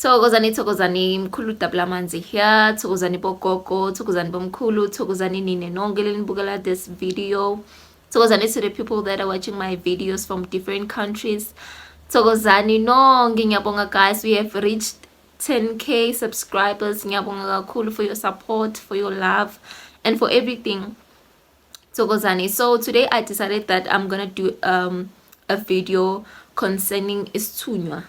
Thokozani thokozani mkhulu dabula amanzi here thokozani bogogo thokozani bomkhulu thokozani nine nonke lenibukela this video thokozani to the people that are watching my videos from different countries thokozani nonke ngiyabonga guys we have reached 10k subscribers ngiyabonga kakhulu for your support for your love and for everything Thokozani. So today I decided that I'm gonna do um, a video concerning isithunywa.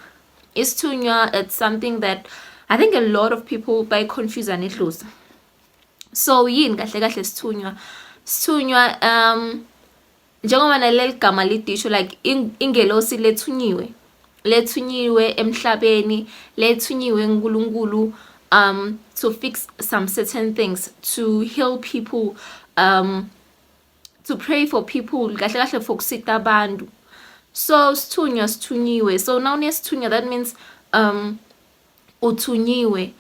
Isithunywa, it's something that I think a lot of people by confuse and it lose. So yini kahle kahle sithunywa? Sithunywa um njengoba naleli gama lidisho like ingelosi lethunyiwe lethunyiwe emhlabeni lethunyiwe uNkulunkulu um to fix some certain things to heal people um to pray for people kahle kahle for kusita abantu so sithunywa sithunyiwe so now nesithunywa that means um uthunyiwe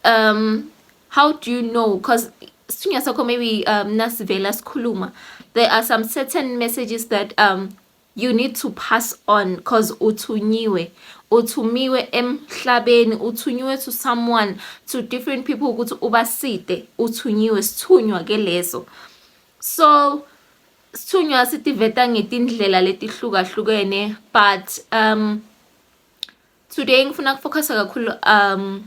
um how do you know because sithunywa sakho maybe um nasivela sikhuluma there are some certain messages that um you need to pass on cause uthunyiwe uthumiwe emhlabeni uthunyiwe to someone to different people ukuthi ubaside uthunyiwe sithunywa ke leso so sithunywa sitiveta ngetindlela letihlukahlukene but um today ngifuna kufocusa kakhulu um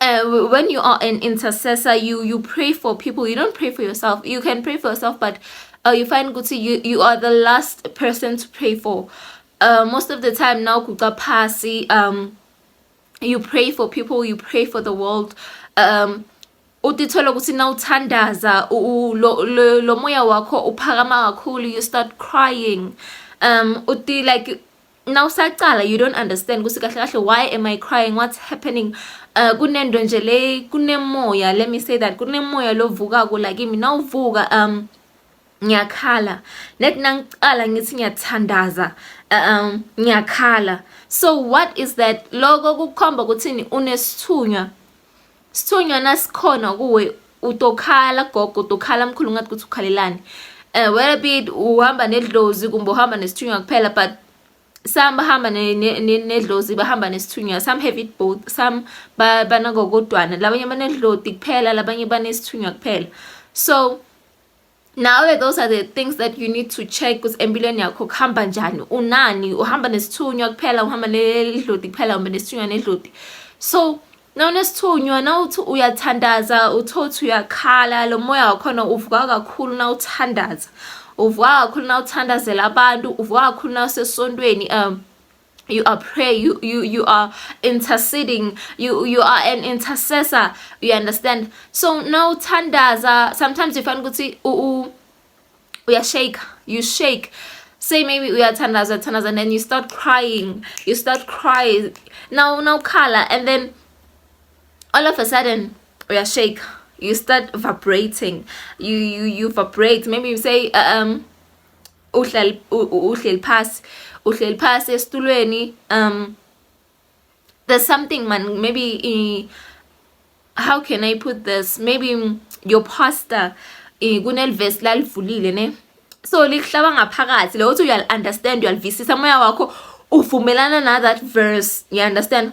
uh, when you are an intercessor you you pray for people you don't pray for yourself you can pray for yourself but uh, you find ukuthi you, you are the last person to pray for uh, most of the time now kuca phasi um you pray for people you pray for the world um utithola ukuthi na uthandaza lo moya wakho uphakama kakhulu you start crying um uti like now saqala you don't understand ukuthi kahle kahle why am i crying what's happening uh, kunento nje le kunemoya let me say that kunemoya lovukako la kimi nawuvuka um ngiyakhala net nangiqala ngithi ngiyathandaza um ngiyakhala so what is that loko kukhomba ukuthini unesithunywa Sithunywa nasikhona kuwe utokhala gogo utokhala mkhulu ngathi ukuthi ukhalelani um eh, whether be it uhamba nedlozi kumbe uhamba nesithunywa kuphela but some bahamba nedlozi bahamba nesithunywa some have it both some banakokodwana labanye banedloti kuphela labanye banesithunywa kuphela so nawe those are the things that you need to check ukuthi empilweni yakho kuhamba njani unani uhamba nesithunywa kuphela uhamba nedlodi kuphela uhamba nesithunywa nedlodi so nawunesithunywa nawuthi uyathandaza uthothi uyakhala lo moya wakhona uvuka kakhulu nawuthandaza uvuka kakhulu nawuthandazela abantu uvuka kakhulu nawusesontweni um you are pray you you you are interceding you you are an intercessor you understand so now tandaza sometimes you find ukuthi u uya shake you shake say maybe uyathandaza thandaza and then you start crying you start crying now now color and then all of a sudden uya shake you start vibrating you you you vibrate maybe you say uh, um uhleli uhleli phasi uhleli phasi esitulweni um there's something man maybe uh, how can i put this maybe mm, your pastor uh, kunelivesi lalivulile ne so likuhlaba ngaphakathi leyo uthi uyali-understand uyalivisisa moya wakho uvumelana na that verse you understand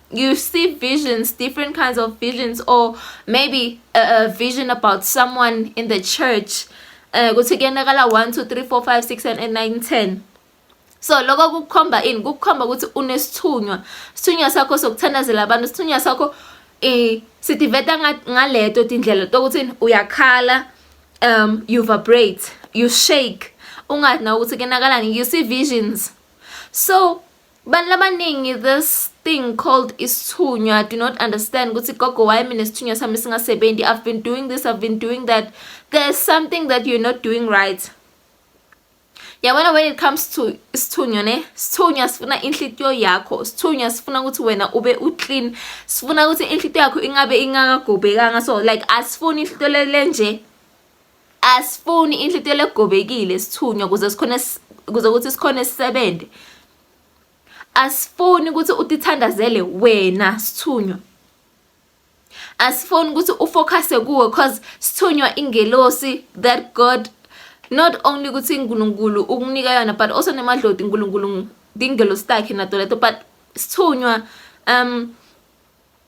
you see visions different kinds of visions or maybe a, a vision about someone in the church eh kuthi kuyenakala 1 2 3 4 5 6 and 9 10 so lokho kukukhomba ini kukukhomba ukuthi unesithunywa sithunywa sakho sokuthandazela abantu sithunywa sakho eh sitiveta ngaleto tindlela tokuthi uyakhala um you vibrate you shake ungathi na ukuthi kenakalani you see visions so Abantu abaningi this thing called isithunywa do not understand ukuthi gogo why mina isithunywa sami singasebenzi I've been doing this I've been doing that there's something that you're not doing right yabona when it comes to isithunywa ne sithunywa sifuna inhlitiyo yakho sithunywa sifuna ukuthi wena ube uclean sifuna ukuthi inhlitiyo yakho ingabe ingakagobhekanga so like asifuni inhlitiyo lenje asifuni inhlitlelo egobekile sithunywa kuze sikhona kuze ukuthi sikhona sisebenze asifuni ukuthi utithandazele wena sithunywa asifuni ukuthi ufocuse kuwe cause sithunywa ingelosi that god not only ukuthi uNkulunkulu ukunika yona but also nemadloti uNkulunkulu dingelosi takhe nato leto but sithunywa um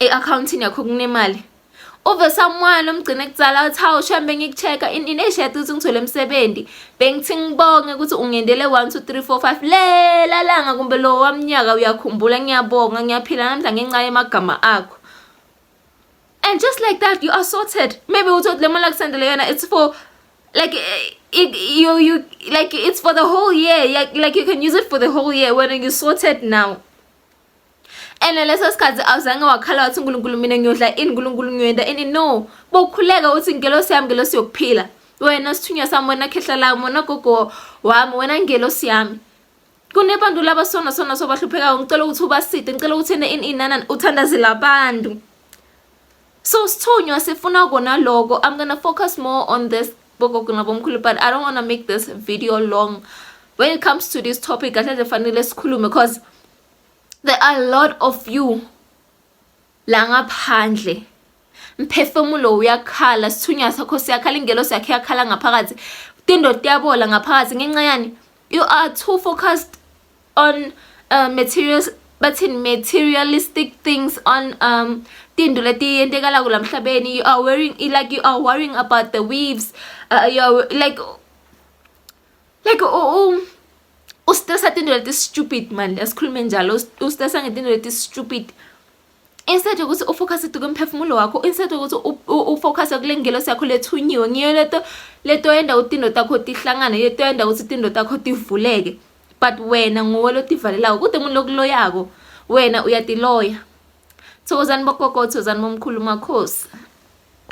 e-akhawuntini yakho kunemali uve samwana omgcine kudzala uthi hawu shem bengikucheck-a ineshiyati ukuthi ngithole umsebenzi bengithi ngibonge ukuthi ungendele 1 2 3 4 5 lela langa kumbe lo wamnyaka uyakhumbula ngiyabonga ngiyaphila namhla ngenxa yemagama akho and just like that you are sorted maybe uthi le mali akusendele yona it's for like eh, it, you you like it's for the whole year like, like you can use it for the whole year when you sorted now ene leso sikhathi awuzange wakhala wathi unkulunkulu mina ngiyodla ini nkulunkulu ngiyoyenda ini no bokhuleka uthi ngelosi yami ngelosi yokuphila wena sithunywa sami wena khehla lami wena gogo wami wena ngelosi yami kunebantu laba sona sona sobahluphekayo ngicela ukuthi ubaside ngicela ukuthi ene ini inana uthandazela abantu So Sithunywa sifuna kona loko. I'm gonna focus more on this bogogo nabomkhulu but I don't wanna make this video long. When it comes to this topic, kahle nje fanele sikhulume because there are a lot of you la ngaphandle mphefumulo uyakhala sithunywa sakho siyakhala ingelo sakhe yakhala ngaphakathi tindoda yabola ngaphakathi ngenxa yani you are too focused on uh, materials bathini materialistic things on um tinto letiyentekalako la mhlabeni you are worrying like you are worrying about the waves uh, you are like like oh, oh ustressa tinto leti stupid mani asikhulume njalo ustressa ngetinto leti stupid instead yokuthi ufokhase duke umphefumulo wakho instead yokuthi ufokhase kule ngelosi yakho lethunyiwe ngiyo leto leto yenda ukuthi into takho tihlangane yeto yenda ukuthi into takho tivuleke but wena nguwe lotivalelayo kude umuntu lokuloyako wena uyatiloya thokozani bogogo thokozani bomkhulu makhosi